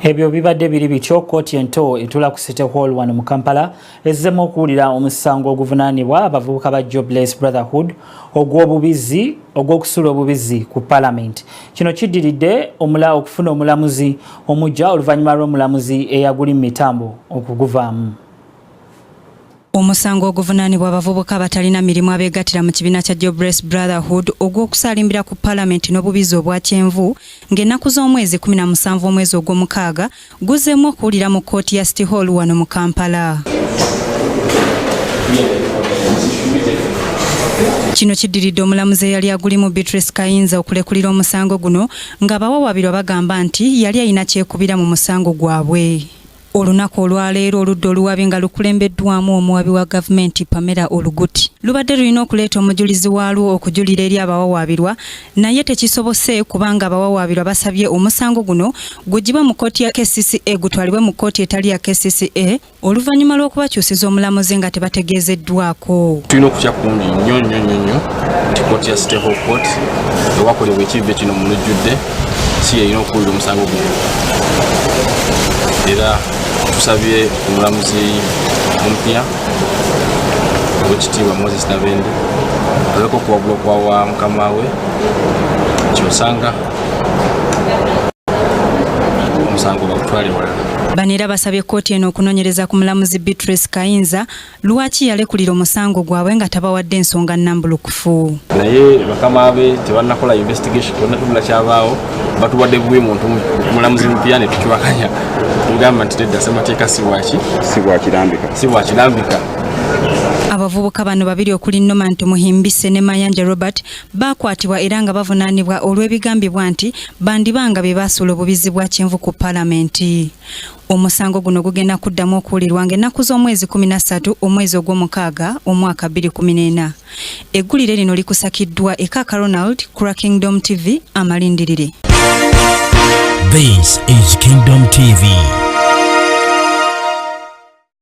ebyo bibadde biri bityo kooti ento etula ku city hall wano mu kampala ezzemu okuwulira omusango oguvunanibwa abavubuka ba jobless brotherhood ogw'obubizzi ogw'okusula obubizzi ku palamenti kino kiddiridde omula okufuna omulamuzi omujja oluvannyuma lw'omulamuzi eyaguli mu mitambo okuguvaamu Omusango oguvunaanibwa abavubuka abatalina mirimu abeegattira mu kibiina kya Jobless Brotherhood ogw'okusaalimbira ku palamenti n'obubizzi obwa kyenvu ng'ennaku z'omwezi 17 omwezi ogw'omukaaga guzzeemu okuwulira mu kkooti ya City Hall wano mu Kampala. Kino kiddiridde omulamuzi eyali agulimu Beatrice Kayinza okulekulira omusango guno ng'abawawabirwa bagamba nti yali alina kyekubira mu musango gwabwe. Olunaku olwaleero oludda oluwabi nga lukulembeddwamu omuwabi wa gavumenti Pamela Oluguti lubadde lulina okuleeta omujulizi waalwo okujulira eri abawawaabirwa naye tekisobose kubanga abawawaabirwa basabye omusango guno gugibwe mu kkooti ya KCCA gutwalibwe mu kkooti etali ya KCCA oluvannyuma lw'okubakyusiza omulamuzi nga tebategeezeddwako tulina okutya kungi nnyo nnyo nnyo nnyo nti kkooti ya state hall court ewakolebwa ekivve kino mu lujjudde si yeyina okuwulira omusango guno era tusabye omulamuzi omupya owekitiibwa moses nabende aleka okuwabula okwawa mukama we kyosanga omusango bagutwale walala bano era basabye kkooti eno okunonyereza ku mulamuzi beatrice kayinza lwaki yalekulira omusango gwabwe nga tabawadde ensonga nambulukufu naye bakama be tebanakola investigation tonatunula kyabaawo batubadde bubi muntu mulamuzi mupya netukiwakanya tugamba nti tedda semateeka siwaki siwakirambika siwakirambika abavubuka bano babiri okuli noman tumuhimbise ne mayanja robert bakwatibwa era nga bavunanibwa olw'ebigambibwa nti bandibanga be basuula obubizi bwa kyenvu ku palamenti Omusango guno gugenda kuddamu okuwulirwa ng'ennaku z'omwezi 13 omwezi ogw'omukaaga omwaka 2014. Eggulire lino likusakiddwa e Kaka Ronald Kura Kingdom TV amalindirire. This is Kingdom TV.